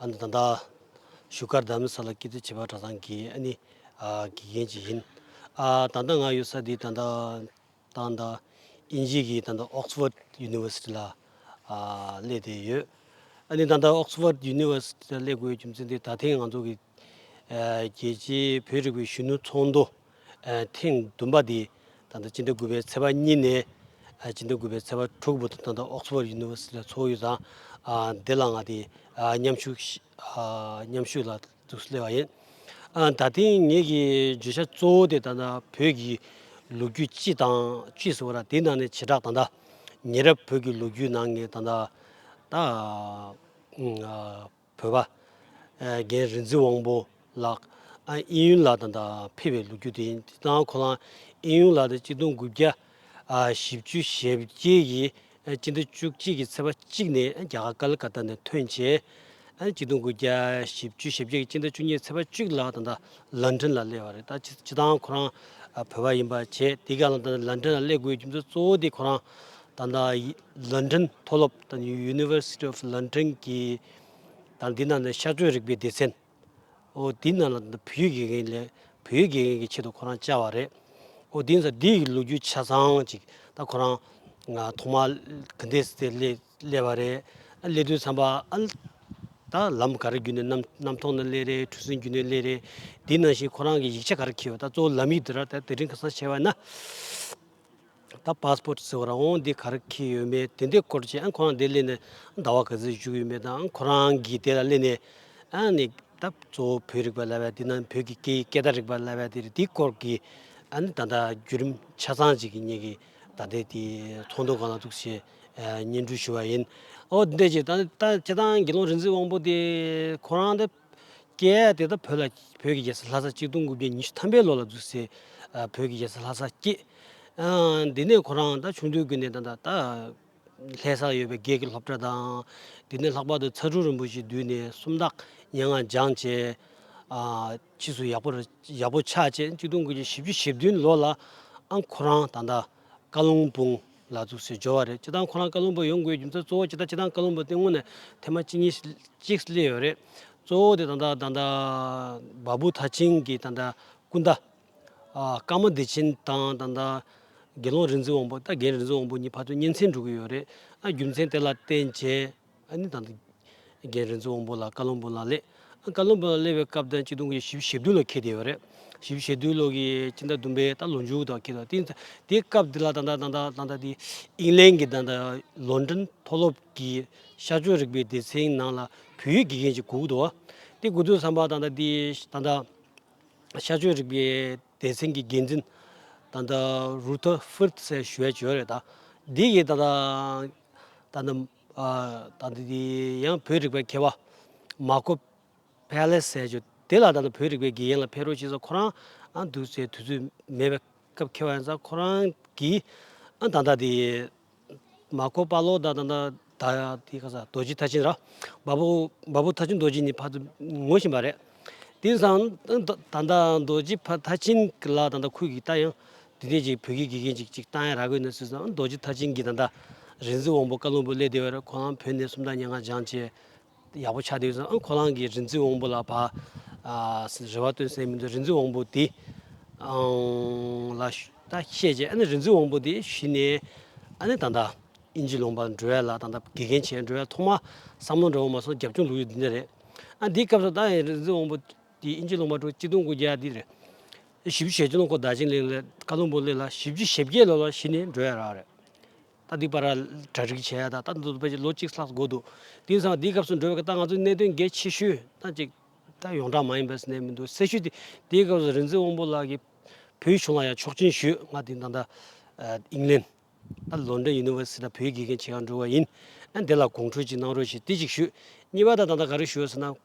ཨ་ནི་ད་ལྟ་བཞུགས་སྒར་རྡ་མི་ས་ལ་སྐྱེས་བཙུན་བྱེ་བ་གྲ་ཚང་གི་ཨ་ནི་དགེ་རྒན་ཅིག་ཡིན། ད་ལྟ་ང་ཡོད་ས་འདི་ད་ལྟ་ཏང་དང་དབྱིན་ཇིའི་གི་ད་ལྟ Oxford University ལ་སླེབས་ཏེ་ཡོད། ཨ་ནི་ད་ལྟ Oxford University ལ་སླེབས་དགོས་རྒྱུ་མཚན་དེ་ད་ཐེངས་ང་ཚོ་གི་རྒྱལ་སྤྱིའི་བོད་རིག་པའི་གཞོན་ནུ་ཚོགས་འདུ། ཐེངས་བདུན་པ་དེ་ད་ལྟ་སྤྱི་ཟླ་དགུ་པའི་ཚེས་པ་གཉིས་ནས་སྤྱི་ཟླ་དགུ་པའི་ཚེས་པ་དྲུག་བར་དུ་ད་ལྟ་ཨོག་སི་ཕོར་ཡུ་ནི་ཝེར་སི་ཏི་ལ་འཚོ་བ་ཡོད་ཙང་བདེ་བླག་ངང་དེ་མཉམ་ཞུགས་ཞུས་ལ་འདུག་སླེ་བ་ཡིན། ད་ཐེངས་ངེད་ཀྱི་བརྗོད་བྱ་གཙོ་བོ་དེ་ད་ལྟ་བོད་ཀྱི་ལོ་རྒྱུས་སྤྱི་དང་སྤྱི་ཟེར་བ་ལ་དེའི་ནང་ནས་བྱེ་བྲག་ད་ལྟ་ཉེ་རབས་བོད་ཀྱི་ལོ་རྒྱུས་ནང་ངས་ད་ལྟ་ད། བོད་པ། རྒན་རིག་འཛིན་དབང་པོ་ལགས། ཨིན་ཡུན་ལགས་དང་དང་ཕེབས་པའི་ལུག་ཁྱུ་དེ་ཡིན། དེ་དང་ཁོ་རང་ཨིན་ཡུན་ལགས་དང་གཅིག་སྟོང་དགུ་བརྒྱ་བཞི་བཅུ་ཞེ་བརྒྱད་ཀྱི་སྤྱི་ཟླ་བཅུ་གཅིག་གི་ཚེས་པ་གཅིག་ནས་རྒྱ་གར་ཀལ་ཀ་ཏ་ནས་ཐོན་རྗེས། གཅིག་སྟོང་དགུ་བརྒྱ་བཞི་བཅུ་ཞེ་བརྒྱད་ཀྱི་སྤྱི་ཟླ་བཅུ་གཉིས་ཚེས་པ་བཅུ་ལ་དང་དང་ལན་ཀྲན་ལ་སླེབས་པ་རེད། སྤྱི་དང་ཁོ་རང་བོད་པ་ཡིན་པ་བཅས་དེ་ག་ལ་དང་དང་ལན་ཀྲན་ལ་སླེབས་དགོས་རྒྱུ་མཚན་གཙོ་བོ་དེ་ཁོ་རང་དང་དང། London མཐོ་སློབ་དང University of London གྱི་དང་དེའི་ནང་ནས་ཤར་བགྲོད་རིག་པའི་སྡེ་ཚན། ཨོ་དེའི་ནང་ལ་བོད་ཡིག་དགེ་རྒན་ལས་བོད་ཡིག་དགེ་རྒན་གྱི་ཆེད་དུ་ཁོ་རང་བཅར་བ་རེད། ཨོ་དེའི་ནང་ས་དེའི་ལོ་རྒྱུས་ཆ་ཚང་ཅིག་ད་ཁོ་རང་ཐོག་མ་ག་འདས་སི་ཏེ་སླེབས་བ་རེད། སླེབས་དུས་ཚངས་པ་ཨ་ད་ལམ་ག་རེ་བརྒྱུད་ནས་གནམ་ཐོག་ན་སླེབས་རེད་འཁྲུལ་སེམས་བརྒྱུད་ནས་སླེབས་རེད་དེའི་ནང་བཞིན་ཁོ་རང་གི་ཡིག་ཆ་ག་རེ་འཁྱེར་ཡོད་ད་གཙོ་བོ་ལམ་ཡིག་དེ་ར་ད་དེ་རིང་ག་སང་བྱས་བ་ན། ད passport ཟེར་བ་རང་དབང་འདི་ག་རེ་ཁེལ་ཡོད་མེད་དེ་འདྲའི་སྐོར་ཅི་ཨང་ཁོ་རང་དེ་སླེབས་ནས་ཟླ་བ་ག་ཚོད་བཞུགས་ཡོད་མེད་དང་ཁོ་རང་གིས་དེ་ལ་སླེབས་ནས་ཨང་ནི་ད་གཙོ་བོ་བོད་རིག་པ་ལ་བས་དེ་ན་བོད་ཀྱི་སྐད་སྐད་བརྡ་རིག་པ་ལ་བས་དེ་རེད་དེའི་སྐོར་གྱི་ཨང་ནི་ད་ལྟ་བརྒྱུད་རིམ་ཆ་ཚང་ཅིག་གི་གཉིས་ཀྱི་ད་ལྟའི་དེ་ཚོགས་འདུ་གང་ལ་ཐུག་ཞེས་སྙན་སྒྲོན་ཞུ་བ་ཡིན། ཨོ་དེ་འདྲ་ཅིག་ད་ལྟ་སྤྱི་བཏང་དགེ་སློང་རིག་འཛིན་དབང་པོ་དེ་ཁོ་རང་དེ། སྐད་ཡིག་དེ་དག་བོད་ལ་བོད་ཀྱི་རྒྱལ་སར་ལྷ་སར་སྐྱིད་སྡུག་འགུག་པའི་ཉི་ཤུ་ཐམ་པའི་ལོ་ལ་བརྫུས་སའི་བོད་ཀྱི་རྒྱལ་སར་ལྷ་སར་སྐྱེས། འདི་ནས་ཁོ་རང་ད་ཆུང་དུས་ཀྱི་ནས་ད་ད་ལྷས་སར་ཡོད་པའི་སྒེར་གྱི་སློབ་གྲྭ་དང། དེ་ནས་ལྷག་པར་དུ་ཚ་གྲུ་རིན་པོ་ཆེའི་མདུན་ནས་སུམ་རྟགས་སྙན་ངག་སྦྱངས་བྱས། ཕྱིས་སུ་ཡག་པོ་ཆགས་རྗེས་སྐྱིད་སྡུག་འགུག་བྱེད་བཞི་བཅུ་ཞེ་བདུན་ལོ་ལ་ཨང་ཁོ་རང་ད་ད་བཀའ་ལུང་སྤུངས། ལ་བཙུགས་ཞེས་བརྗོད་པ་རེད་སྤྱི་བཏང་ཁོ་རང་བཀའ་བློན་པོ་ཡོང་དགོས་རྒྱུ་མཚན་གཙོ་བོ་སྤྱི་བཏང་སྤྱི་བཏང་བཀའ་བློན་པོ་སྟེ་དངོས་ནས་ཐེངས་མ་གཅིག་གཉིས་གཅིག་སླེ་ཡོད་རེད་གཙོ་བོ་དེ་ད་ལྟ་ད་ལྟ་བ་བུ་ཐ་ཆིང་གི་ད་ལྟ་སྐུ་ཟླ། ཀརྨ་བདེ་ཆེན་དང་ད་ལྟ་དགེ་སློང་རིག་འཛིན་དབང་པོ་ད་རྒན་རིག་འཛིན་དབང་པོ་གཉིས་ཕ་ཚོད་གཉེན་ཚན་འགྲོ་གི་ཡོད་རེད་ཨ་རྒྱུ་མཚན་དེ་ལ་བརྟེན་བྱས། ཨ་ནི་དང། རྒན་རིན་ཚོ་དབང་པོ་ལ་བཀའ་བློན་འབུམ་ལ་སླེབས། བཀའ་བློན་འབུམ་ལ་སླེབས་པའི་སྐབས་དང་གཅིག་ཏུ་ཞི་བྱེས་བདུན་ལོ་ཁེལ་བསྡད་ཡོད་རེད། ཞི་བྱེས་བདུན་ལོ་གི་སྤྱི་ཟླ་བདུན་པའི་ད་ལོ་མཇུག་ཏུ་ཁེལ་བསྡད་ཡོད། དེའི་སྐབས་དེ་ལ་ད་ལྟ་དབྱིན་ལན་གྱི་ལོན་ཏོན་མཐོ་སློབ་ཀྱི་ཤར་ཕྱོགས་རིག་པའི་སྡེ་ཚན་ནང་ལ་བོད་ཡིག་དགེ་རྒན་གྱི་གོ་བསྡུར་བ། དེ་གོ་བསྡུར་བསམ་པ་ད་ལྟ་དེ་ད་ལྟ་ཤར་ཕྱོགས་རིག་པའི་སྡེ་ཚན་གྱི་འགན་འཛིན་ད་ལྟ་རུ་ཐོ་ཧྥུར་ཐི་སེ་ཞུ་ཝེ་ཆི་ཡོད་རེད། དེ་ཡིས་ད་ལྟ། ད་ནི་ད་ནི་དེ་ཡང་བོད་རིག་པའི་མཁས་པ་མ་ཀོ་བྷེ་ལེ་སེ་ཇོ་དེ་ལ་ད་ནི་བོད་རིག་པའི་དགེ་རྒན་ལ་ཕེབས་རོགས་ཞུས་ས་ཁོ་རང་འདུག་སའི་དུས་ཚོད་མེད་པའི་སྐབས་མཁས་པ་ཡིན་ས་ཁོ་རང་གིས་ཨ་ད་ལྟ་དེ་མ་ཀོ་པ་ལོ་ད་ད་ད་དེ་ག་ས་རྡོ་རྗེ་ཐ་ཆེན་ར་འབའ་པོ་འབའ་པོ་ཐ་ཆེན་རྡོ་རྗེ་གཉིས་ཕར་དུ་ངོ་བཞིན་པ་རེད་དེ་བསམ་ད་ད་རྡོ་རྗེ་ཕ་ཐ་ཆེན་ལ་ད་ད་ཁོས་གིས་ད་ཡང་དེ་དེ་ཅིག་བོད་ཀྱི་དགེ་རྒན་ཅིག་ཅིག་ཏང་ཡང་ར་གོས་ནས་སུད་ཙང་རྡོ་རྗེ་མཐར་ཕྱིན་གྱི་ད་ལྟ་རིག་འཛིན་དབང་པོ་བཀའ་བློན་པོ་སླེ་བདེ་བར་ཁོང་རང་བོད་ནས་སུམ་རྟགས་སྙན་ངག་སྦྱང་བྱས་ཡག་པོ་ཆགས་བསྡད་ཡོད་ཙང་ཨང་ཁོ་རང་གིས་རིག་འཛིན་དབང་པོ་ལ་བ་རེ་བ་བཏོན་སའི་མི་འདུག་རིག་འཛིན་དབང་པོ་དེ་ཨང་ལ་ད་བཤད་བྱས་ཨ་ནི་རིག་འཛིན་དབང་པོ་དེ་གཞི་ནས་ཨ་ནི་ད་ལྟ་ཨིན་ཇི་ལུང་པར་འགྲོ་ཡ་ལ་ད་ལྟ་དགེ་རྒན་བྱས་འགྲོ་ཡ་ཐོག་མ་བསམ་བློ་འདྲ་བོ་མ་སོང་རྒྱབ་ལྗོངས་ལུགས་ཡོད་འདི་འདྲ་རེད་ཨ་འདིའི་སྐབས་སུ་ད་ཡང་རིག་འཛིན་དབང་པོ་དེ་ཨིན་ཇི་ལུང་པར་འགྲོ་བར་སྤྱི་སྟོང་དགུ་བརྒྱ་འདི་རེད། བཞི་བཅུ་ཞེ་བཅུ་ལོ་འཁོར་བདག་ཆེན་གླིང་ལས་བཀའ་བློན་པོ་གླེགས་ལ་བཞི་བཅུ་ཞེ་བརྒྱད་ལོ་ལ་ཤི་ནས་འབྲོས་ཡ་རག་རེད། ད་འདི་པ་ར་གྲ་རིག་བྱས་ཡ་ད་ད་འདི་ཚོ་ཕལ་ཆེར་ལོ་གཅིག་ལྷག་འགོར་འདུག་དེང་སང་འདིའི་སྐབས་སུ་འབྲོས་པའི་ད་ང་ཚོའི་གནད་དོན་གལ་ཆེ་ཤོས་ད་ཅིག་ད་ཡོངས་གྲགས་མ་ཡིན་པས་སུ་གནས་མི་འདུག་སེ་ཤུལ་དེ་དེའི་སྐབས་སུ་རིན་ཚེ་དབང་པོ་ལགས་ཀྱིས་བོད་གཞུང་ལ་ཡང་ཆོག་མཆན་ཞུས་ང་དེང་སང་ད་ཨིང་ལན། ད་ལོན་ཏོན་ཡུ་ནི་ཝེར་སི་ཏི་ད་བོད་དགེ་རྒན་བྱེད་ཡ་འགྲོ་བ་ཡིན་ཨ་འདི་ལ་གོང་འཁྲོལ་ཅིག་གནང་རོགས་ཞེས་དེ་ཅིག་ཞུས་གཉིས་པ་ད་ད་ད་ག་རེ་ཞུ་ཨ་ཟེར་ན།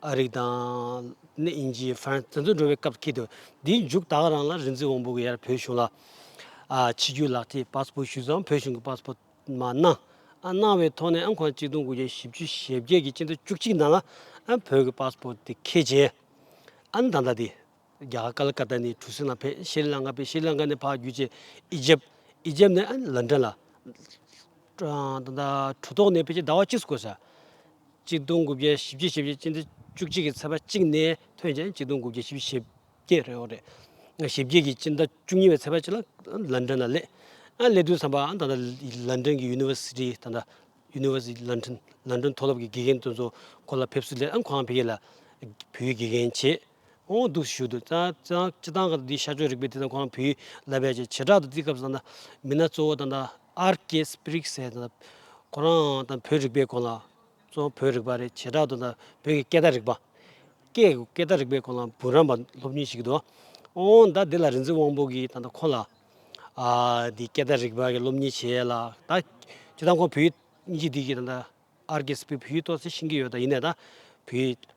ཨ་རིག་དང། ནི་ཨིན་ཇི། ཧྥ་རན། དེ་ཚོ་འགྲོ་བའི་སྐབས་ཀྱི་དུ། དེའི་མཇུག་ད་ག་རང་ལ་རིག་འཛིན་དབང་པོ་གི་ཡར་བོད་གཞུང་ལ། ཕྱི་རྒྱུད་ལག་ཐིག་པཱ་སི་པོ་ཞུས་ཙང་བོད་གཞུང་གི་པཱ་སི་པོ་མ་གནང། གནང་བའི་ཐོག་ནས་ཨང་གོང་གཅིག་སྟོང་དགུ་བརྒྱ་བཞི་བཅུ་ཞེ་བརྒྱད་ཀྱི་སྤྱི་ཟླ་བཅུ་གཅིག་ནང་ལ། བོད་ཀྱི་པཱ་སི་པོ་དེ་ཁེལ་རྗེས། ཨ་ནི་ད་ལྟ་དེ། རྒྱ་གར་ཀ་ལ་ཀ་ཏཱ་ནས་གྲུ་གཟིངས་ལ་ཕེབས་ཤྲཱི་ལང་ཀ་ཕེབས་ཤྲཱི་ལང་ཀ་ནས་ཕག་བརྒྱུད་ཅེས་ཨི་ཇེབ་ཨི་ཇེབ་ནས་ལན་ཀྲན་ལ། གྲུ་ཐོག་ནས་ཕེབས་ཀྱིས་ཟླ་བ་གཅིག་སུ་བཀོད་ས། གཅིག་སྟོང་དགུ་བརྒྱ་བཞི་བརྒྱ་ཞེས་པའི་སྤྱི་ཟླ་བཅུ་གཅིག་གི་ཚེས་པ་གཅིག་ནས་ཐོན་ཅིང་གཅིག་སྟོང་དགུ་བརྒྱ་ཞེ་བཞི་ཞེ་བརྒྱད་རེད་འོང་རེད། ཞེ་བརྒྱད་ཀྱི་སྤྱི་ཟླ་བཅུ་གཉིས་པའི་ཚེས་པ་གཅིག་ལ་ལན་ཀྲན་ལ་སླེབས། སླེབས་དུས་བསམ་པ་ད་ལྟ་ལན་ཀྲན་གྱི་ཡུ་ནི་ཝེར་སི་ཏི་ད་ལྟ University London ལན་ཀྲན་མཐོ་སློབ་ཀྱི་དགེ་རྒན་དོན་གཙོ་སྐོར་ལ་ཕེབས་བསུ་སླེབས་ཨང་ཁོང་ཕེབས་ཀྱིས་ལ་བོད་ཡིག་དགེ་རྒན་བྱས། དབང་སྡུག་ཞུ་དུ་སྤྱི་དང་གི་དེའི་ཤར་ཕྱོགས་རིག་པའི་དེ་དང་ཁོ་རང་བུའི་ལ་བས་ཀྱི་བྱེ་བྲག་ཏུ་བརྩི་སྐབས་སུ་ད་ལྟ་མི་སྣ་གཙོ་བོ་ད་ལྟ་ཨར་ཀེ་སི་པིརིག་སེ་ད་ལྟ་ཁོ་རང་ད་ལྟ་བོད་རིག་པའི་སྐོར་ལ་གཙོ་བོ་བོད་རིག་པ་རེད་བྱེ་བྲག་ཏུ་ད་ལྟ་བོད་ཀྱི་སྐད་བརྡ་རིག་པ། སྐད་སྐད་བརྡ་རིག་པའི་སྐོར་ལའང་བུ་རམས་པ་སློབ་གཉེར་བྱེད་ཀྱི་འདུག་འོན་ད་དེ་ལ་རིག་འཛིན་དབང་པོ་གིས་ད་ལྟ་ཁོ་ལ་དེའི་སྐད་བརྡ་རིག་པ་གི་སློབ་གཉེར་བྱས་ལ་ད་སྤྱི་དང་ཁོ་བོའི་གཉིས་ཀྱི་དེ་གི་ད་ལྟ་ཨར་ཀེ་སི་པིརིག་བུའི་སྟོད་ཚལ་ཕྱིན་གྱི་ཡོད་ད་ཡིན་ནའི་ད་བུའི།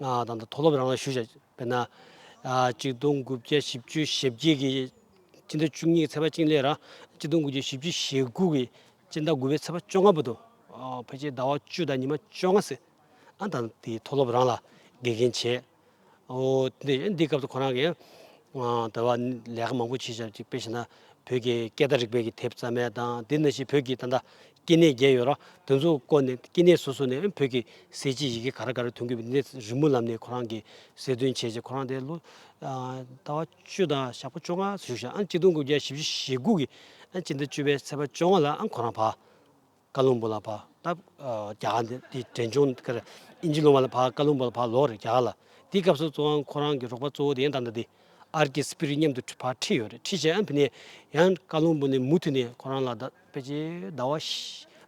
དང་དང་དོ་སློབ་རང་ལ་ཞུ་བྱ་བས་ན། གཅིག་སྟོང་དགུ་བརྒྱ་བཞི་བཅུ་ཞེ་བརྒྱད་ཀྱི་སྤྱི་ཟླ་བཅུ་གཉིས་ཀྱི་ཚེས་པ་གཅིག་ལས་ར་གཅིག་སྟོང་དགུ་བརྒྱ་བཞི་བཅུ་ཞེ་དགུ་ཀྱི་སྤྱི་ཟླ་དགུ་པའི་ཚེས་པ་བཅོ་ལྔ་པོ་དུ་ཕལ་ཆེར་ཟླ་བ་བཅུ་དང་ཉི་མ་བཅོ་ལྔ་ཟིན། ཨ་དང་དེའི་མཐོ་སློབ་རང་ལ་དགེ་རྒན་བྱས། འོ། འདི་སྐབས་སུ་ཁོ་རང་གིས། དེ་བ་ལས་ཀ་མང་པོ་བྱེད་བྱ་ཅིག་དཔེ་བྱས་ན་བོད་ཀྱི་སྐད་བརྡ་རིག་པའི་གི་དེབ་རྩ་མེད་དང་དེ་ན་བཞིན་བོད་ཀྱི་ད་ལྟ་སྐྱེ་གནས་བརྒྱད་ཡོད་རང་དེ་ཚོ་བཀོལ་ནས་སྐྱེ་གནས་སོ་སོ་ནས་བོད་ཀྱི་ཟས་ཀྱི་ཡི་གེ་ག་རེ་ག་རེ་ཐོན་གི་འདི་རི་མོ་ལམ་ནས་ཁོ་རང་གི་གསལ་སྟོན་བྱས་རྗེས་ཁོ་རང་དེ་ལོ་ཟླ་བ་བཅུ་དང་ཞག་པོ་བཅོ་ལྔ་བཞུགས་ཤིང་གཅིག་སྟོང་དགུ་བརྒྱ་བཞི་བཅུ་ཞེ་དགུ་གི་སྤྱི་ཟླ་བཅུ་པའི་ཚེས་པ་བཅོ་ལྔ་ལ་ཁོ་རང་བར་ཀ་ལུང་པོ་ལ་བར་སྟབས་རྒྱ་གར་འདི་དེ་དྲན་བྱུང་དཀའ་རེད་ཨིན་ཇི་ལོང་བ་ལ་བར་ཀ་ལུང་པོ་ལ་བར་ལོག་རེད་རྒྱ་གར་ལ་དེའི་སྐབས་སུ་གཙོ་བོ་ཁོ་རང་གི་རོགས་པ་གཙོ་བོ་དེ་ཡང་ད་ལྟ་དེ་ཨར་ཀི་སི་པི་རི་མཉམ་དུ་བར་ཁྲིད་ཡོད་རེད་ཁྲིད་བྱས་ཨ་ཕི་ནས་ཡང་ཀ་ལུང་པོ་ནས་མུ་མཐུད་ནས་ཁོ་རང་ལ་ད། དཔེ་ཆའི་ཟླ་བ།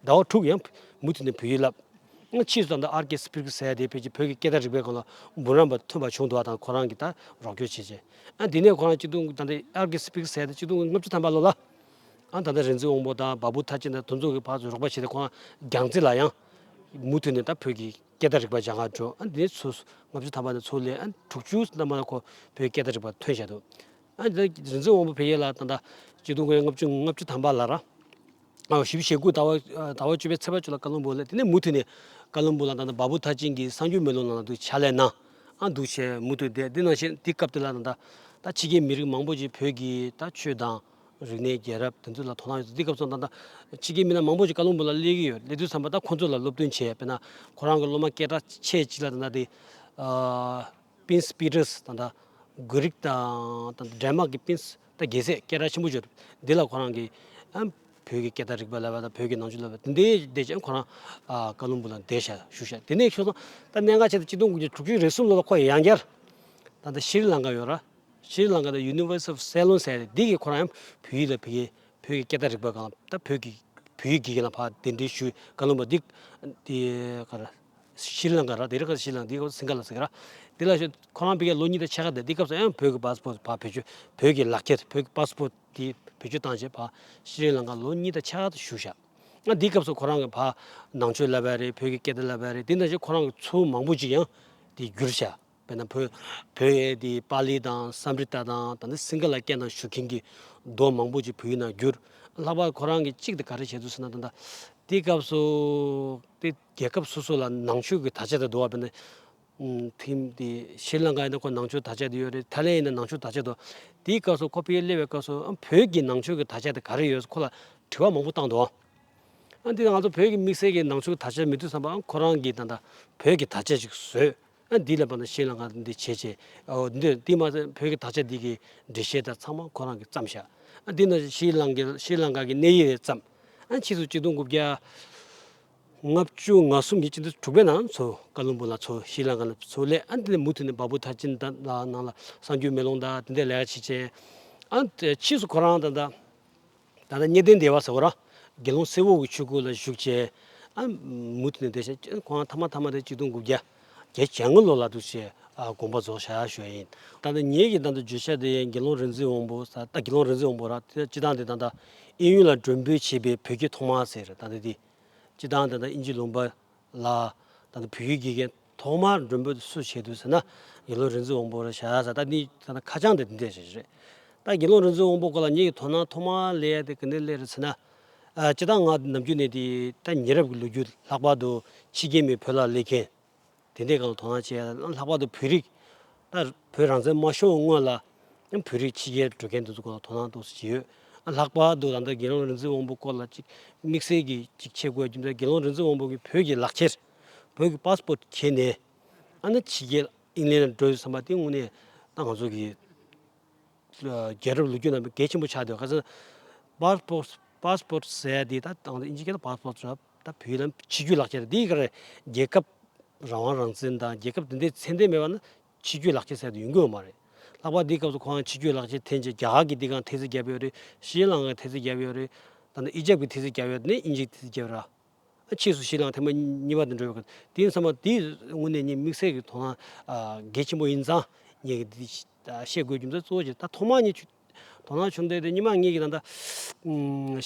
ཟླ་བ་དྲུག་ཡང་མུ་མཐུད་ནས་བོད་ཡིག་བསླབས། སྔ་ཕྱིས་སུ་ཙམ་དུ་ཨར་ཀེ་སི་པིར་ཀི་སེ་དེ་ཕེབས་རྗེས་བོད་ཀྱི་སྐད་བརྡ་རིག་པའི་སྐོར་ལ་འབུམ་རམས་པ་ཐོན་པ་བྱུང་འདུག་ད་ཁོ་རང་གིས་ད་རོགས་སྐྱོར་བྱེད་ཅེས། ཨ་དེ་ནས་ཁོ་རང་སྐྱིད་སྡུག་ད་ལྟ་ཨར་ཀེ་སི་པིར་ཀི་སེ་དེ་སྐྱིད་སྡུག་ལྔ་བཅུ་ཐམ་པ་ལོ་ལ། ཨ་ད་ལྟ་རིག་འཛིན་དབང་པོ་དང་བ་བུ་ཐ་ཆེན་དང་དོན་གཙོ་གི་བར་དུ་རོགས་པ་བྱས་ཏེ་ཁོ་རང་རྒྱང་རྩེ་ལ་ཡང། མུ་མཐུད་ནས་ད་བོད་ཀྱི་སྐད་བརྡ་རིག་པ་སྦྱང་གང་བྱོས་ཨ་དེ་ནས་ཚུ་ལྔ་བཅུ་ཐམ་པ་ནས་ཚུ་ལས་ཨ་དྲུག་ཅུ་ཐམ་པ་ན་ཁོ་བོད་ཀྱི་སྐད་བརྡ་རིག་པ་ཐོན་བཞག་འདུག། ཨ་འདི་རིག་འཛིན་དབང་པོ་བེ་ཡེ་ལ་དང་དང། སྤྱི་གདུང་དབང་ལྔ་བཅུ་ལྔ་བཅུ་དམ་པ་ལ་ར། བཞི་བཞི་ཞེ་དགུ་ཟླ་བ་ཟླ་བ་བཅུ་པའི་ཚེས་པ་བཅུ་ལ་བཀའ་བློན་འབུལ་ལ་དེ་ནས་མུ་མཐུད་ནས། བཀའ་བློན་འབུལ་ལ་དང་དང་བ་བུ་མཐར་ཕྱིན་གྱི་གསང་རྒྱུད་མེ་ལོང་ནང་ལ་འདུ་བྱ་ལས་ན། ཨ་འདུ་བྱས་མུ་མཐུད་བསྡད་དེ་ནང་བཞིན་དེ་སྐབས་དེ་ལ་དང་དང། ད་ཕྱི་རྒྱལ་མི་རིགས་མང་པོ་ཅིག་བོད་ཀྱི་ད་ཆོས་དང། རིག་གནས་རྒྱལ་རབས་དེ་ཚོ་ལ་དོ་སྣང་ཡོད་དེ་སྐབས་སུ་དང་དང། ཕྱི་རྒྱལ་མི་སྣ་མང་པོ་ཅིག་བཀའ་བློན་འབུལ་ལ་སླེབས་ཀྱི་ཡོད་སླེབས་དུས་ཚང་མ་ད་ཁོང་ཚོ་ལ་སློབ་སྟོན་བྱས་པས་ན། ཁོ་རང་གི་སློབ་མ་སྐད་གྲགས་ཆེ་གཅིག་ལ་དང་དང་དེ། Pins Peters དང་འདྲ། དགོས་རིགས་དང་འདྲ། Denmark གི Pins དང་རྒྱལ་སྲས་སྐད་གྲགས་ཆེན་པོ་བྱུང། འདི་ལ་ཁོ་རང་གིས། བོད་ཀྱི་སྐད་བརྡ་རིག་པ་ལས་པ་དང་བོད་ཀྱི་ནང་ཆོས་ལས་པ་དེ་འདྲའི་འདས་རྗེས་ཁོ་རང། ཀ་ལུམ་བུ་ལ་འདས་ཞལ་བཞུགས་ཞག་དེ་ནས་ཤོར་སོང། ད་གནད་འགག་ཆེ་ལ་སྤྱི་སྟོང་དགུ་བརྒྱ་དྲུག་ཅུ་རེ་གསུམ་ལོ་ལ་ཁོ་ཡང་བསྐྱར། ད་ལྟ་ཤྲཱི་ལངྐར་ཡོད། ཤྲཱི་ལངྐར་དང University of Ceylon ཟེར་ཡ་དེ་གིས་ཁོ་རང་ཡང་བོད་ཡིག་ལ་ཕེབས་ཀྱིན། བོད་ཀྱི་སྐད་བརྡ་རིག་པ་དང་བོད་ཀྱི་བོད་ཡིག་དགེ་རྒན་ལ་བག་དེ་འདྲའི་ཞུས་ཀ་ལུམ་བུ་འདི། ཤྲཱི་ལངྐ་ར་དེ་རི་ཁ་ཤྲཱི་ལངྐ་དེའི་སྐབས་སིངྒ་ལ་སིངྒ་ར་དེ་ལ་ཁོ་རང་བོད་ལོ་གཉིས་ལ་ཆེ་ཁ་དེ་དེའི་སྐབས་སུ་ཨེ་བོད་ཀྱི་པཱ་སི་པོ་བ་བེད་སྤྱོད་བོད་ཀྱི་ལག་ཁྱེར་བོད་ཀྱི་པཱ་སི་པོ་དེ་བེད་སྤྱོད་བཏང་རྗེས་བ་ཤྲཱི་ལངྐ་ལོ་གཉིས་ད་ཆེ་ཁ་དུ་བཞུགས་ཤག་ཨ་དེའི་སྐབས་སུ་ཁོ་རང་གི་བ་ནང་ཆོས་བསླབས་པ་རེད་བོད་ཀྱི་སྐད་བརྡ་བསླབས་པ་རེད་དེ་ནང་བཞིན་ཁོ་རང་གི་ཚུལ་མང་པོ་ཅིག་ཡང་དེ་བསྒྱུར་ཤག་བེད་ན་བོད་བོད་དེ་པཱ་ལི་དང་སམ་རི་ཏཱ་དང་ད་ནི་སིངྒ་ལ་སྐད་ནང་བཞུགས་མཁན་གྱི་མདོ་མང་པོ་ཅིག་བོད་ཡིག་ནང་བསྒྱུར་ལྷག་པ་ཁོ་རང་གི་གཅིག་དེ་ག་རེ་བྱེད་དུ་སོང་ན་ད་དེའི་སྐབས་སུ་དེ། རྒྱལ་ཁབ་སོ་སོ་ལ་ནང་ཆོས་ཀྱི་དར་ཆ་དེ་འདུག་བ་བས་ན། ཕིན་དེ་ཤྲི་ལང་ཀ་ཡིན་ན་ཁོ་ནང་ཆོས་དར་ཆ་དེ་ཡོད་རེད་ཐའི་ལན་ཡིན་ན་ནང་ཆོས་དར་ཆ་འདུག་དེའི་སྐབས་སུ་ཁོ་ཕེ་ཡེ་སླེབས་པའི་སྐབས་སུ་ཨ་བོད་ཀྱི་ནང་ཆོས་ཀྱི་དར་ཆ་དེ་ག་རེ་ཡོད་ཁོ་ལ་དྲི་བ་མང་པོ་བཏང་འདུག་ཨ་འདི་ང་ཚོ་བོད་ཀྱི་དམིགས་བསལ་གྱི་ནང་ཆོས་དར་ཆ་མི་འདུག་བསམ་པ་ཨ་ཁོ་རང་གི་ད་ལྟ་བོད་ཀྱི་དར་ཆ་ཞིག་བཟོས་ཨ་འདི་ལ་བ་ན་ཤྲི་ལང་ཀ་འདི་བྱས་བྱས་འདི་དེ་མ་ཟད་བོད་ཀྱི་དར་ཆ་འདི་གི་འགྲེལ་བཤད་དང་ཚང་མ་ཁོ་རང་གི་བརྩམས་བཞག་ཨ་འདི་ནི་ཤྲི་ལང་ཀ་གི་གནས་ཡིག་རེད་བརྩམས་ཨ་ཕྱིས་སུ་གཅིག་སྟོང་དགུ་བརྒྱ། ལྔ་བཅུ་ང་གསུམ་གྱི་དཀྱིལ་དུ་དྲུག་པའི་ནང་མཚོ་ཀ་རླུང་བུ་ལ་མཚོ་ཤྲི་ལངྐ་ན་མཚོ་ལས་ཨ་འདི་ལས་མུ་མཐུད་ནས་འབའ་བུ་མཐར་ཕྱིན་དང་དང་ནང་ལ་སངས་རྒྱུའི་མེ་ལོང་དང་དེ་འདྲའི་ལས་ཀ་བྱེད་ཅིང། ཨ་ཕྱིས་སུ་ཁོ་རང་དང་དང། ད་ལྟ་གཉེར་གཏན་བདེ་བ་ཟེར་བ་ར། དགེ་སློང་སེར་བོ་བའི་ཆོས་སྐུ་ལ་བཞུགས་བྱས། ཨ་མུ་མཐུད་ནས་བསྡད་བྱས་ཁོ་རང་ཐ་མ་ཐ་མ་དེ་གཅིག་སྟོང་དགུ་བརྒྱ། བརྒྱད་བྱ་དངོས་ལོ་ལ་དུ་བྱས་དགོངས་པ་རྫོགས་བྱ་ཞོ་ཡིན། ད་ནི་ངེད་ཀྱི་དང་དུ་བརྗོད་བྱ་དེ་དགེ་སློང་རིག་འཛིན་དབང་པོ་ད་དགེ་སློང་རིག་འཛིན་དབང་པོ་ར་དེ་སྤྱི་དང་དེ་དང་ད་ཨིན་ཡུལ་ལ་འགྲོན་འབོད་བྱེད་པའི་བོད་སྐད་ཐོག་མ་ཟེར་ད་དེ་དེ་སྤྱི་དང་དེ་དང་ཨིན་ཇི་ལུང་པ་ལ་ད་དེ་བོད་ཡུལ་དགེ་རྒན་ཐོག་མ་འགྲོན་འབོད་སུ་བྱེད་དུ་ཟེར་ན་དགེ་སློང་རིག་འཛིན་དབང་པོ་ར་བྱ་ཟེར་ད་ནི་ད་ནི་ཁ་བྱང་དེ་དེ་འདྲས་བྱེད་ཀྱི་རེད་ད་དགེ་སློང་རིག་འཛིན་དབང་པོ་ཀོ་ལ་ངེད་ཀྱི་དོ་སྣང་ཐོག་མ་ལས་ཡ་དེ་ག་ནས་སླེ་རེད་ཟེར་ན་སྤྱི་དང་ང་ནམ་རྒྱུན་ནས་ད་ཉེ་རབས་ཀྱི་ལོ་རྒྱུས་ལྷག་པར་དུ་ཕྱི་རྒྱལ་མིས་བོད་ལ་སླེབས་མཁན་དེ་འདྲས་གང་དོ་སྣང་བྱས་ཡ་ལྷག་པར་དུ་བོད་རིགས་ད་བོད་རང་བཙན་མ་ཤོར་སྔོན་ལ་བོད་རིགས་ཕྱི་རྒྱལ་འགྲོ་མཁན་དེ་ཚོ་གང་དོ་སྣང་ཏོག་ཅིག་བྱས་ཡོད་ལྷག་པར་དུ་ད་ལྟ་དགེ་སློང་རིག་འཛིན་དབང་པོ་སྐོར་ལ་ཅིག་དམིགས་བསལ་གྱིས་ཅིག་འཆད་དགོས་རྒྱུ་མཚན་དགེ་སློང་རིག་འཛིན་དབང་པོ་གིས་བོད་ཀྱི་ལག་ཁྱེར་བོད་ཀྱི Passport ཁྱེར་ནས་ཨ་ནི་ཕྱི་རྒྱལ་ཨིང་ལན་ལ་འགྲོ་ཡོད་བསམ་པ་དེ་དངོས་གནས་ད་ང་ཚོ་གིས་རྒྱལ་རབས་ལོ་རྒྱུས་རྣམས་གལ་ཆེན་པོ་ཆགས་འདུག་ག་ཚོད Passport ཟེར་དེ་ད་དང་དབྱིན་ཇི་སྐད་དུ Passport ཟེར་ད་བོད་ནང་ཕྱི་རྒྱུད་ལག་འཁྱེར་དེ་ག་རེ་རྒྱལ་ཁབ་རང་དབང་རང་བཙན་དང་རྒྱལ་ཁབ་དེ་འདྲའི་མཚན་ལྡན་མེད་པ་ན་ཕྱི་རྒྱུད་ལག་འཁྱེར་ཟེར་དུ་ཡོང་གི་ཡོད་མ་རེད། ལྷག་པར་དེའི་སྐབས་སུ་ཁོང་རང་ཕྱི་རྒྱུད་ལག་འཁྱེར་འཐེན་རྗེས་རྒྱ་གར་གྱི་དེ་གའང་ཐེལ་ཙེ་བརྒྱབ་ཡོད་རེད་ཤྲི་ལངྐ་གི་ཐེལ་ཙེ་བརྒྱབ་ཡོད་རེད། ད་ནི་ཨི་ཇེབ་ཀྱི་ཐེལ་ཙེ་བརྒྱབ་ཡོད་དེ་ནས་དབྱིན་ཇིའི་ཐེལ་ཙེ་བརྒྱབ་ར། ཕྱིས་སུ་ཤིང་ལག་ཐེམ་པ་གཉིས་པ་དེ་འགྲོལ་བའི་སྐབས་དེའི་མཚམས་པ་དེའི་སྔུན་ནས་ཉིད་དམིགས་བསལ་གྱི་དོ་སྣང་གལ་ཆེན་པོ་ཡིན་ཙང་ངས་འདི་བཤད་དགོས་རྒྱུ་མཚན་གཙོ་བོ་གཅིག་ད་ཐོག་མར་ངས་ཆུ་དོ་སྣང་ཆུང་ལྡན་དེ་སྙི་མ་ངས་ཀྱི་ད་ལྟ་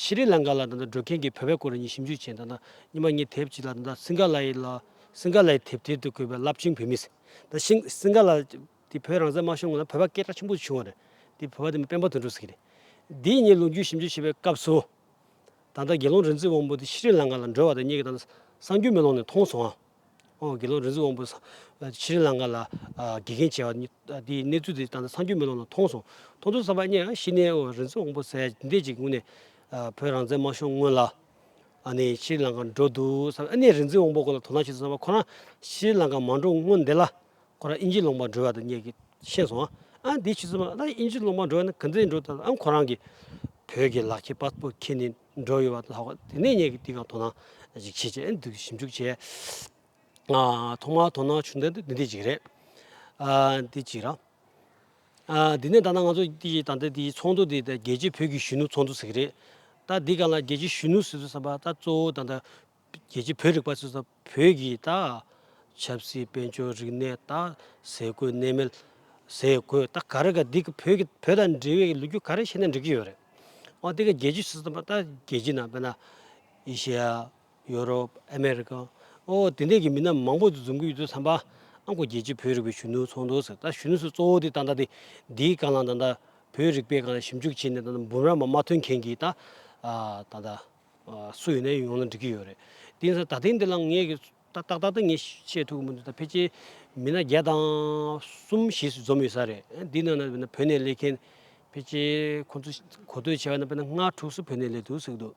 ཤི་རི་ལང་ཀ་ལ་ད་ལྟ་འགྲོ་མཁན་གྱི་བོད་པའི་སྐོར་ངས་ཞིབ་འཇུག་བྱས་ད་ལྟ་སྙི་མ་ངས་དེབ་ཅིག་ལ་ད་ལྟ་སིང་ག་ལ་ཡི་ལ་སིང་ག་ལ་ཡི་དེབ་ཐེར་དུ་བཀོད་པའི་རླབས་ཆེན་བོད་མི་ཟེར་ཞིང་སིང་ག་ལ་དེ་བོད་རང་བཙན་དམར་ཤོག་སྔོན་ལ་བོད་པ་སྐད་གྲགས་ཆེན་པོ་བྱུང་བ་རེད་དེ་བོད་པ་དེ་མི་དཔོན་པོ་དོན་གྲུབ་ཟེར་གྱི་རེད་དེའི་ངས་ལོ་རྒྱུས་ཞིབ་འཇུག་བྱེད་པའི་སྐབས་སུ། ད་ལྟ་དགེ་སློང་རིག་འཛིན་དབང་པོ་དེ་ཤྲི་རི་ལངྐ་ལ་འགྲོ་བ་དང་གཉིས་ཀྱིས་ད་ལྟ་གསང་རྒྱུད་མེ་ལོང་ནས་མཐོང་སོང་ངམ། དགེ་སློང་རིག་འཛིན་དབང་པོ་ཤྲི་རི་ལངྐ་ལ་དགེ་རྒན་བྱས་བ་དེའི་གནས་ཚུལ་དེ་ད་ལྟ་གསང་རྒྱུད་མེ་ལོང་ནས་མཐོང་སོང། མཐོང་ཚུལ་གསར་པ་གཉིས་ཡང་ཤི་ནའི་དབང་རིག་འཛིན་དབང་པོ་ཟས་འདེད་ཅིག་ངུ་ནས་བོད་རང་བཙན་དམར་ཤོག་སྔོན་ལ་ནས་ཤྲི་རི་ལངྐ་འགྲོ་འདུག་བསམ་ནས་རིག་འཛིན་དབང་པོ་ཁོ་ལ་དོ་སྣང་བྱེད་དུ་བསམ་པ་ཁོ་རང་ཤྲི་རི་ལངྐ་མ་འགྲོ་སྔོན་འདེད་ལ་ཁོ་རང་དབྱིན་ཇིའི་ལོ་མང་འགྲོ་བ་དང་གཉིས་ཀྱིས་ཤེས་སོང། ཨང་དེའི་ཕྱི་ཚུལ་མ་ལགས་ན་དབྱིན་ཇིའི་ལོ་མང་འགྲོ་བ་ནི་གང་འདྲའི་འགྲོ་ཐལ་ཨང་ཁོ་རང་གིས་བོད་ཀྱི་ལག་ཁྱེར་པཱ་སྤོར་ཁྱེར་ནས་འགྲོ་ཡོད་པ་དང་ལྷག་པར་དེ་ནས་གཉིས་ཀྱིས་འདི་གའང་དོ་སྣང་ཞིག་བྱེད་ཅེས་ཨང་དེའི་ཞིབ་འཇུག་བྱས། ཐོག་མར་དོ་སྣང་བྱུང་དོན་དུ་འདི་འདི་གཅིག་རེད། ཨང་འདི་གཅིག་རང། ཨང་འདི་ནས་ད་ནངས་ང་ཚོ་འདི་ཡི་ད་ལྟ་འདི་ཡི་ཚོགས་འདུ་འདི་ད་རྒྱལ་སྤྱིའི་བོད་ཀྱི་གཞོན་ནུ་ཚོགས་འདུ་ཟེར་གྱི་རེད། ད་འདི་ག་ལ་རྒྱལ་སྤྱིའི་གཞོན་ནུ་ཟེར་ཚུལ་བསམ་པ་ད་གཙོ་བོ་ད་ལྟ་རྒྱལ་སྤྱིའི་བོད་རིག་པ་ཚོས་བོད་ཀྱི་ཆབ་སྲིད་དཔལ་འབྱོར་རིག་གནས་ཟས་གོས་གནས་མལ་ཟས་གོས་ག་རེ་ག་འདི་བོད་ཀྱི་བོད་དང་འབྲེལ་བའི་ལོ་རྒྱུས་ག་རེ་བཤད་ན་འགྲིག་གི་ཡོད་རེད་འོ་དེ་ག་རྒྱལ་སྤྱིའི་ཆུ་ཚོད་དུ་ད་རྒྱལ་སྤྱིའི་ནང་དཔེར་ན་ཨི་ཤི་ཡ་ཡོ་རོབ་ཨ་མེ་རི་ཀ་ཨོ་དེ་འདྲས་ཀྱི་མི་སྣ་མང་པོ་འཛོམས་ཀྱི་ཡོད་དུས་བསམ་པ་ཨ་ཁོ་རྒྱལ་སྤྱིའི་བོད་རིག་པའི་གཞོན་ནུ་ཚོགས་འདུ་ཟེར་ད་གཞོན་ནུ་ཚོས་གཙོ་བོ་དེ་ད་ལྟ་དེ་འདིའི་སྐང་ལམ་ད་ལྟ་བོད་རིག་པའི་སྐང་ལ་ཞིབ་འཇུག་བྱས་ནས་ད་ལྟ་འབུམ་རམས་མ་ཐོན་མཁན་གྱི་ད་ལྟ། སུ་ཡོད་ནའི་ཡོང་ན་འགྲིག་གི་ཡོད་རེད། དེ་ཡིན་ས་ད་ཐེངས་འདི་ལ་ངས་ཏག་ཏག་ཏག་ཏག་ངས་བཤད་ཐུབ་ཀི་མི་འདུག་ད་ཕལ་ཆེར་མི་སྣ་བརྒྱ་དང་གསུམ་བཞི་སུ་འཛོམས་ཡོད་ས་རེད། འདི་ནང་ན་བོད་ནས་སླེབས་མཁན་ཕལ་ཆེར་ཁོང་ཚོ་གོ་ཐོས་བྱས་པ་ན་དཔེར་ན་ལྔ་དྲུག་སུ་བོད་ནས་སླེབས་འདུག་ཟེར་གི་འདུག་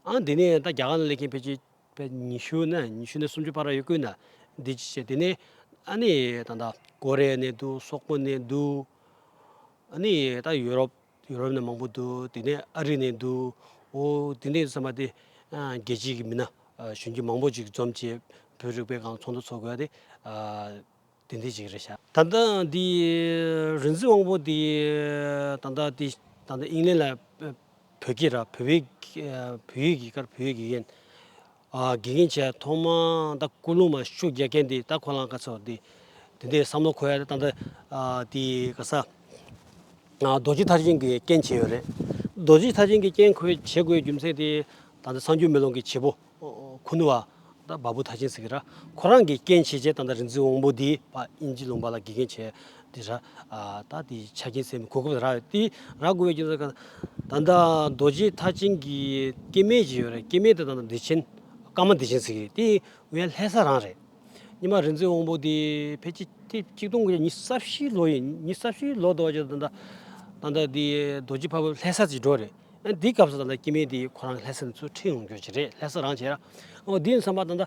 ཨང་འདི་ནས་ད་རྒྱ་གར་ན་སླེབས་མཁན་ཕལ་ཆེར་ཉི་ཤུ་ན་ཉི་ཤུ་ནས་སུམ་ཅུ་བར་ཡོད་དགོས་ན་འདི་ཅི་བྱས་དེ་ནས་ཨ་ནི་ད་ད་ཀོ་རེ་ཡ་ནས་འདུག་སོག་པོ་ནས་འདུག་ཨ་ནི་ད་ཡུ་རོབ། ཡུ་རོབ་ནས་མང་པོ་འདུག་དེ་ནས་ཨ་རི་ནས་འདུག་འོ་དེ་ནས་བསམ་པ་དེ་རྒྱལ་སྤྱིའི་གི་མི་སྣ་གཞོན་སྐྱེས་མང་པོ་ཅིག་འཛོམས་བྱས་བོད་རིག་པའི་གང་ཚོགས་འདུ་ཚོགས་དགོས་ཏེ་དེ་འདི་ཅིག་རེད་བྱ། ད་ལྟ་འདི་རིག་འཛིན་དབང་པོ་དེ་ད་ལྟ་དེ་ད་ལྟ་ཨིང་ལན་ལ་བོད་སྐད་ར་བོད་བོད་ཡིག་གི་ཀར་བོད་ཡིག་གི་ཡན་དགེ་རྒན་བྱས་ཐོག་མ་ད་སྐུལ་སློང་མ་ཤུགས་རྒྱག་མཁན་དེ་ད་ཁོ་རང་ག་ཚོད་དེ་དེ་འདྲའི་བསམ་བློ་འཁོལ་ཡ་ད་འདྲ་དེ་ག་ས་རྡོ་རྗེ་ཐར་ཆེན་གྱི་རྐྱེན་བྱས་ཡོད་རེད་རྡོ་རྗེ་ཐར་ཆེན་གྱི་རྐྱེན་ཁོས་བྱེད་དགོས་རྒྱུ་མཚན་དེ་ད་འདྲ་སངས་རྒྱུས་མེ་ལོང་གི་བྱེད་པོ་ཁུ་ནུ་བ་ད་བ་བུ་ཐར་ཆེན་ཟེར་གི་ར་ཁོ་རང་གི་རྐྱེན་བྱས་བྱས་ད་འདྲ་རིག་འཛིན་བོང་བུ་དེ་བ་དབྱིན་ཇི་ལུང་པ་ལ་དགེ་རྒན་བྱས་དེ་ར། ད་དེ་ཆ་རྐྱེན་ཚད་མེད་གོ་སྐབས་ར་དེ་ར་དགོས་པའི་རྐྱེན་ཚད་ཀ། ད་ནྡ་རྡོ་རྗེ་མཐའ་བྱིན་གྱི་སྐྱེ་མེད་ཅིག་ཡོད་རེད་སྐྱེ་མེད་དེ་ད་ནྡ་བདེ་ཆེན་ཀརྨ་བདེ་ཆེན་ཟིག་རེད་དེའི་ཡང་ལྷའི་ས་རང་རེད། ཉི་མ་རིན་ཆེན་དབང་པོ་དེ་ཕལ་ཆེར་ཏེ་གཅིག་སྟོང་གི་ཉིས་རྩ་བཞིའི་ལོ་ཡིན་ཉིས་རྩ་བཞིའི་ལོ་དོ་ཅིག་ད་ནྡ། ད་ནྡ་དེ་རྡོ་རྗེ་ཕ་བོད་ལྷའི་ས་ཅིག་འགྲོ་རེད་ཡང་དེའི་སྐབས་སུ་ད་ནྡ་སྐྱེ་མེད་དེ་ཁོ་རང་གི་ལྷའི་ས་ནས་ཚུར་ཁྲིད་ཡོང་རྒྱུ་ཅིག་རེད་ལྷའི་ས་རང་བྱས་ར། འོ་དེའི་ས་མ་ད་ནྡ།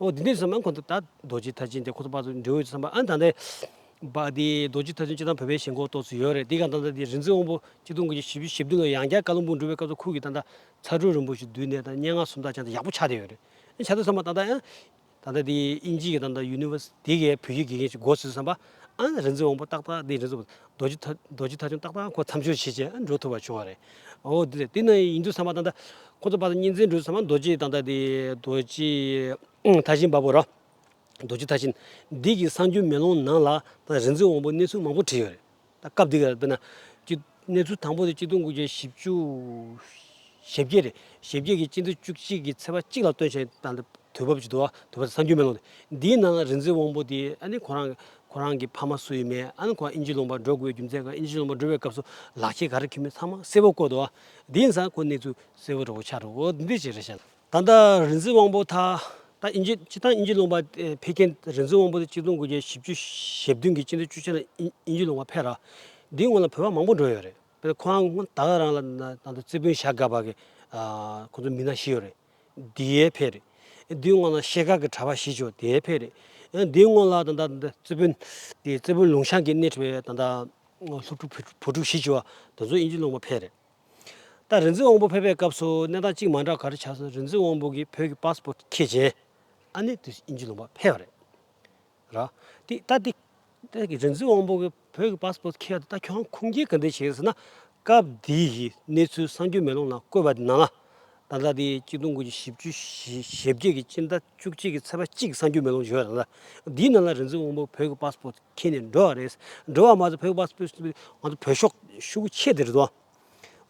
ཨོ་དེ་འདི་བསམ་ན་ཁོ་ད་རྡོ་རྗེ་ཐ་ཆེན་དེ་ཁོ་ཚོ་དཔའ་ཚོ་འབྲེལ་ཡོད་བསམ་པ་ཨ་ད་ནི་བ་དེ་རྡོ་རྗེ་ཐ་ཆེན་སྤྱིར་བཏང་བོད་པའི་ཞེན་ཁོག་ཏོག་ཙེ་ཡོད་རེད་དེ་ག་ད་ལྟ་དེ་རིག་འཛིན་དབང་པོ་སྐྱིད་སྡོང་གི་ཞིབ་ཞིབ་བསྡུས་ནང་ཡང་བསྐྱར་བཀའ་བློན་དཔུང་སྒྲུབ་པའི་སྐབས་སུ་ཁུར་གྱིས་ད་ད་ཚ་དྲོད་རིན་པོ་ཆེ་བསྡུས་ནས་ད་སྙན་ངག་སུམ་རྟགས་ཅན་དེ་ཡག་པོ་ཆགས་བསྡད་ཡོད་རེད་ཨ་ཆགས་ཏེ་བསམ་པ་ད་ད་ཡང་ད་ད་དེ་དབྱིན་ཇིའི་གི་ད་ད་ཡུ་ནི་ཝར་སི་ཏི་གི་བོད་ཡིག་དགེ་རྒན་ཞིག་མགོ་ཚུགས་བསམ་པ་ཨང། རིག་འཛིན་དབང་པོ་ཏག་ཏག་འདི་རིག་འཛིན་རྡོ་རྗེ་རྡོ་རྗེ་ཐ་ཆུང་ཏག་ཏག་ཁོ་མཚམས་སྦྱོར་བྱེད་ཅེས་འགྲོ་ཐུབ་པ་བྱུང་བ་རེད། ཨོ་དེ་ལས་དེ་ནི་ཡིན་དུས་བསམ་པ་ཏག་ཏག་ཁོ་ཚོ་པར་གཉིས་འཛིན་འགྲོ་བསམ་པ་རྡོ་རྗེ་ཏག་ཏག་འདི་རྡོ་རྗེ་ཐ་ཆེན་འབབ་བོ་ར། རྡོ་རྗེ་ཐ་ཆེན་འདི་གི་གསང་རྒྱུད་མེ་ལོང་ནང་ལ་ད་རིག་འཛིན་དབང་པོ་གནས་ཚུལ་མང་པོ་བྲིས་ཡོད་རེད། ད་སྐབས་འདི་གར་དཔེར་ན། གནས་ཚུལ་དང་པོ་དེ་སྤྱི་དོན་དགུ་བརྒྱ་བཞི་བཅུ་ཞེ་བརྒྱད་རེད། ཞེ་བརྒྱད་ཀྱི་སྤྱི་དོན་བཅུ་གཅིག་གི་ཚེག་བར་གཅིག་ལ་སྟོན་བྱེད་དང་དེ་དུས་བབ་ཀྱི་དུ་བ་དུ་བ་དང་སངས་རྒྱུའི་མེ་ལོང་རེད། འདིའི་ནང་རིག་འཛིན་དབང་པོ་དེ་ཨ་ནི་ཁོ་རང་ཁོ་རང་གི་ཕ་མ་སུ་ཡིན་མེད་ཨ་ནི་ཁོ་རང་དབྱིན་ཇི་ལོངས་པར་འགྲོ་དགོས་པའི་རྒྱུ་མཚན་གང་ཨིན་ཇི་ལོངས་པར་འགྲོ་བའི་སྐབས་སུ་ལག་ཁྱེར་ག་རེ་ཁྱེར་མེད་ཚང་མ་གསལ་བོ་བཀོད་འདུག་ཨ་དེའི་ནང་ཁོ་གནས་ཚུལ་གསལ་བོ་ར་བོ་ཆགས་འདུག་འོ་འདི་འདྲའི་ཆེད་རེད་བཤད་ན། ད་ལྟ་རིག་འཛིན་དབང་པོ་དྷ་ད་ཨིན་ཇིས་སྤྱི་བཏང་ཨིན་ཇི་ལུང་པ་འཕེལ་རྐྱེན་རིག་འཛིན་དབང་པོ་དྷའི་སྤྱི་སྟོང་དགུ་བརྒྱ་བཞི་བཅུ་ཞེ་བདུན་གྱི་སྤྱི་འདུས་བཅུ་ཆ་ན་ཨིན་ཇི་ལུང་པ་འཕེལ་ར་འདིའི་སྔོན་ལ་བོད་པ་མང་པོ་འགྲོ་ཡོད་རེད་དཔེར་ན་ཁོང་སྔོན་ད་ལྟ་རང་ལ་ནང་དུ་རྩེ་དཔོན་ཞྭ་སྒ་བ་གི་ཁོ་ཚོ་མི་སྣ་བཞི་ཡོད་རེད་དེ་ཡས་འཕེལ་རེད་དེའི་སྔོན་ལ་ཤེལ་དཀར་གྱི་གྲྭ་པ་བཞི་བཅུ་དེ་ཡས་འཕེལ་རེད་ཡང་དེའི་སྔོན་ལ་ད་ལྟ་རྩེ་དཔོན་རྩེ་དཔོན་ལུང་ཤང་གི་སྣེ་ཁྲིད་པའི་ད་ལྟ་སློབ་ཕྲུག་བུ་ཕྲུག་བཞི་བཅུ་བ་དེ་ཚོ་ཨིན་ཇི་ལུང་པ་འཕེལ་རེད། ད་རིག་འཛིན་དབང་པོ་ཕེབས་པའི་སྐབས་སུ་གནས་སྟངས་གཅིག་མ་འདྲ་ག་རེ་ཆགས་སོང་རིག་འཛིན་དབང་པོ་གིས་བོད་ཀྱི་པཱ་སི་པོ་ཏ་ཁྱེད་ཅན་ཨ་ནེ་དུས་ཨིན་ཇི་ལོང་པ་ཕེབས་རེད་ར། དེ་ད་དེ་ད་གི་རིག་འཛིན་དབང་པོ་གིས་བོད་ཀྱི་པཱ་སི་པོ་ཏ་ཁྱེར་ད་ཁྱོད་རང་ཁུངས་སྐྱེལ་ག་འདི་བྱེད་ཟེར་ན་སྐབས་དེའི་གནས་ཚུལ་སངས་རྒྱུ་མེ་ལོང་ན་བཀོད་པ་དེ་ནང་ལ་ད་ལྟ་དེ་སྤྱི་སྟོང་དགུ་བརྒྱ་བཞི་བཅུ་ཞེ་བརྒྱད་ཀྱི་སྤྱི་ཟླ་བཅུ་གཅིག་གི་ཚེས་པ་གཅིག་གསང་རྒྱུད་མེ་ལོང་བྱོས་རང་ལ་དེའི་ནང་ལ་རིན་འཛིན་དབང་པོ་བོད་ཀྱི་པཱས་པོར་ཁྱེར་ནས་འགྲོ་བ་རེད་འགྲོ་བ་མ་ཟད་བོད་ཀྱི་པཱས་པོར་ང་ཚོ་བོད་ཤོག་ཤུགས་ཀྱིས་ཆད་དེ་རེད་དོ།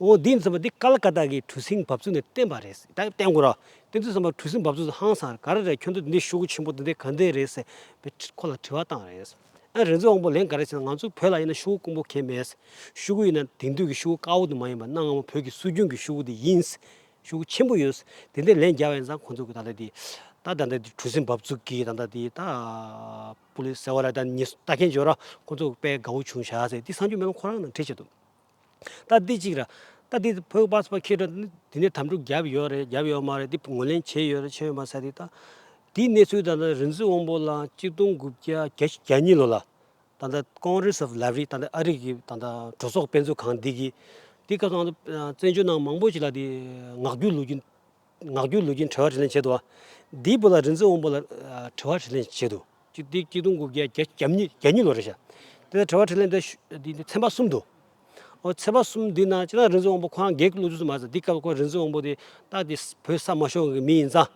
འོ་དེ་མཚོན་པ་དེ་ཀ་ལ་ཀ་ཏག་གི་གྲུ་གཟིངས་འབབ་ཚུགས་ནས་བསྟན་པ་རེད་ད་བསྟན་དགོས་རོགས་དེ་ཚོས་བསམ་པ་གྲུ་གཟིངས་འབབ་ཚུགས་སུ་ཧང་སངས་ག་རེ་རེད་ཁྱོད་ཚོ་དེ་འདྲའི་ཤོག་ཁུ་ཆེན་པོ་དེ་འདྲས་ག་འདྲས་རེད་ཟེར་བའི་ཁོ་ལ་དྲི་བ་བཏང་རེད། ཨ་རི་འཛིན་དབང་པོ་ལན་ག་རེ་བྱས་ན་ང་ཚོ་བོད་ལ་ཡིན་ན་ཤུ་གུ་དཀོན་པོ་ཁེལ་མེད། ཤུ་གུ་ཡིན་ན་དེང་དུས་ཀྱི་ཤུ་གུ་དཀར་བོ་དེ་མ་ཡིན་པར་གནའ་སྔ་མོ་བོད་ཀྱི་སྲོལ་རྒྱུན་གྱི་ཤུ་གུ་དེ་ཡིན། ཤུ་གུ་ཆེན་པོ་ཡོད། དེ་འདྲའི་ལན་རྒྱག་པ་ཡིན་ཙང་ཁོང་ཚོ་གི་ད་ལྟ་དེ། ད་ད་ནི་དེ་གྲུ་གཟིངས་འབབ་ཚུགས་ཀྱི་ད་ད་དེ་ད། པུ་ལི་ཟེར་བ་ལ་ད་ནི་ལྟ་མཁན་བྱོས་ར་ཁོང་ཚོ་དཔེ་དགའ་བོ་བྱུང་བྱ་ཟེར་དེ་སངས་རྒྱུས་མེད་པ་ཁོ་རང་ནང་ཁྲིད་བྱེད་དོ། ལྟ་འདི་གཅིག་ར། ལྟ་འདི་བོད་པ་ཚོ་ཁྱེད་ཚོ་འདི་ནས་དམ་དྲུག་རྒྱབ་ཡོད་རེད་རྒྱབ་ཡོད་མ་རེད་འདི་ངོས་ལེན་བྱས་ཡོད་རེད་བྱས་ཡོད་མ་ཟེར་ཏེ། དེའི་གནས་ཚུལ་ད་ལྟ་རིག་འཛིན་དབང་པོ་ལགས་གཅིག་སྟོང་དགུ་བརྒྱ་གྱ་གཉིས་ལོ་ལ་ད་ལྟ Congress of Library ད་ལྟ་ཨ་རིག་གི་ད་ལྟ་གྲོས་ཚོགས་དཔེ་མཛོད་ཁང་འདི་གིས་འདི་སྐབས་བཙན་བྱོལ་ནང་མང་པོ་ཞིག་ལ་འདི་ངག་རྒྱུན་ལུགས་རྒྱུན། ངག་རྒྱུད་ལུས་ཀྱི་འཁྲུལ་བ་དྲི་ལེན་བྱེད་དོ། འདིའི་བུ་ལ་རིག་འཛིན་དབང་པོ་ལ་འཁྲུལ་བ་དྲི་ལེན་བྱེད་དོ། ཅི་སྟེ་སྐྱིད་སྡུག་འགུགས་བརྒྱད་བརྒྱ་ཉིད་ལོ་རེ་བྱ། དེ་ལ་འཁྲུལ་བ་དྲི་ལེན་འདི་ཚན་པ་གསུམ་དུ། ཚན་པ་གསུམ་འདི་ན་ཅི་ན་རིག་འཛིན་དབང་པོ་ཁོ་རང་བགེགས་ཀྱི་བློ་ཚུལ་སུ་མ་ཟད་འདི་སྐབས་ཁོ་རིག་འཛིན་དབང་པོ་དེ་རྟགས་དེ་བོད་ས་མ་ཤོང་གི་མི་ཡིན་ཙང།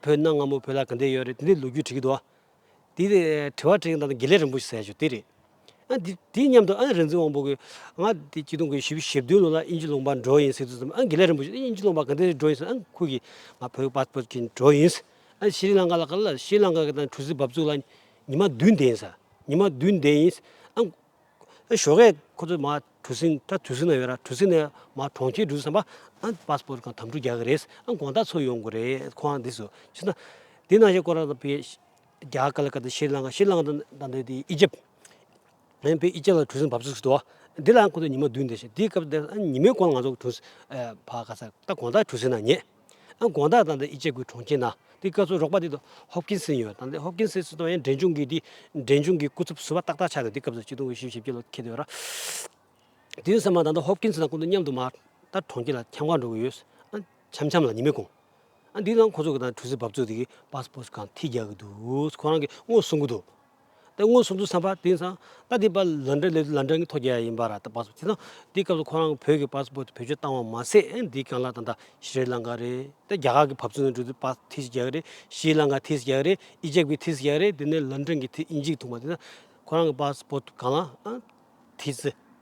བོད་ནང་སྔ་མོ་བོད་ལ་གང་འདྲེ་ཡོད་རེད་དེ་འདྲེ་ལུགས་རྒྱུད་བྲི་གི་འདུག། དེ་ནས་དྲི་བ་དྲིས་ཡོང་དང་དགེ་ལེགས་རིན་པོ་ཆེ་ཟེར་ཡ་བྱུང་དེ་རེད། ཨ་དེ་དེ་སྙམ་དུ་ཨ་རིག་འཛིན་དབང་པོ་གིས། ང་དེ་སྐྱིད་སྡུག་གི་ཞི་བཞི་བདུན་ལོ་ལ་དབྱིན་ཇི་ལུང་པར་འགྲོ་ཡིན་ཟེར་དུས་སམ་ཨ་དགེ་ལེགས་རིན་པོ་ཆེས་དབྱིན་ཇི་ལུང་པར་ག་དུས་འགྲོ་ཡིན་ཟེར་ཨ་ཁོ་གིས། ང་བོད་པ་སྤོད་ཀྱིན་འགྲོ་ཡིན། ཨ་ཤི་རི་ལང་ཀ་ལ་ཀ་ལ་ཤི་རི་ལང་ཀ་གི་ནང་གྲུ་གཟིངས་འབབ་ཚུགས་ལ་ཉི་མ་བདུན་བསྡད་ཡིན། ཉི་མ་བདུན་བསྡད་ཡིན། ཨ་ཞོགས་ཀས་ཁོ་ཚོས་མ་གྲུ་གཟིངས་ད་གྲུ་གཟིངས་ན་ཡོད་ར་གྲུ་གཟིངས་ནས་མ་གྲོང་ཁྱེར་འགྲུ་བསམ་པ་ཨ passport གང་དམ་འཕྲུག་རྒྱག་གི་རེད་ཨ་དགོངས་དག་འཚོལ་ཡོང་དགོས་རེད་ཁོ་རང་འདི་སུ་ཕྱི་ན་དེ་ནང་བཞིན་ཀོ་ར་པའི་རྒྱ་གར་ལ་ཀ་ཏི་ཤྲི་ལངྐ་ཤྲི་ལངྐ་དང་ད་ནི་དེ་ཨི་ཇིབ་ཨན་པའི་ཨི་ཇིབ་ལ་གྲུ་གཟིངས་བབས་ཚུལ་ཞིག་འདུག་ཨ་འདི་ལའང་ཁོ་ཚོས་ཉི་མ་བདུན་འདས་ཤིང་དེའི་སྐབས་འདིར་ཨ་ཉི་མའི་གོང་ལ་ང་ཚོ་གྲུ་གཟིངས་ཕབ་ག་ཚར་ད་དགོངས་དག་གྲུ་གཟིངས་ན་ཉེས། ཨང་གོང་ད་དང་འདི་ཨི་ཅེ་གུའི་གྲོང་ཁྱེར་ན། དེ་སྐབས་སུ་རོགས་པ་དེ་དང་ཧོབ་ཀིན་སིན་ཡོད་དང་དེ་ཧོབ་ཀིན་སིན་སུ་དང་ཡང་འབྲེལ་འབྱུང་གིས་དེ་འབྲེལ་འབྱུང་གི་སྐུ་ཚབ་ཟུར་བ་ཏག་ཏག་ཆགས་ནས་དེ་སྐབས་སུ་སྤྱི་སྟོང་དགུ་བཞི་ཞེ་བརྒྱད་ལོ་ཁེལ་དུས་ར། དེ་ཡིན་ས་མ་ད་དང་ཧོབ་ཀིན་སིན་དང་ཀུན་ཏུ་མཉམ་དུ་མ་ད་གྲོང་ཁྱེར་ལ་འཁྱམ་ཁང་འགྲོ་གི་ཡོད། ཨང་འཁྱམ་འཁྱམ་ལ་ཉི་མས་གོང། ཨང་དེའི་ནང་ཁོ་ཚོ་གི་དང་གྲུ་གཟིངས་བབས་ཚོད་དེ་གིས་པཱ་སི་པོ་སི་ཁང་ཐིག་རྒྱག་གི་འདུག་ཁོ་རང་གིས་དངོས་སུ་གསུང་གི་འདུག། ཏེ་མངོན་སུམ་དུ་བསམ་པ་དེང་སང་ད་ལྟའི་བར་ལ་འབྲེལ་ལས་དུ་ལ་འབྲེལ་གྱི་ཐོ་རྒྱལ་ཡ་ཡིན་པ་ར་ད་པ་སོ་དེ་སང་དེའི་སྐབས་སུ་ཁོ་རང་བོད་ཀྱི་པ་སྤོ་ཏི་བེད་སྤྱོད་བཏང་བ་མ་ཟད་འདིའི་གང་ལ་ད་ད་ཤྲཱི་ལང་ཀ་རེད་ཏེ་རྒྱ་གར་གྱི་བབ་ཚུལ་ནང་བྲིས་ཏེ་པ་ཐི་སི་རྒྱལ་རེད་ཤྲཱི་ལང་ཀ་ཐི་སི་རྒྱལ་རེད་ཨི་ཇེབ་ཀྱི་ཐི་སི་རྒྱལ་རེད་དེ་ནས་ལ་འབྲེལ་གྱི་ཐི་ཨི་འཇིགས་ཐུང་པ་དེ་སང་ཁོ་རང་གི་པ་སྤོ་ཏི་གང་ལ་ཨ་ཐི་སི།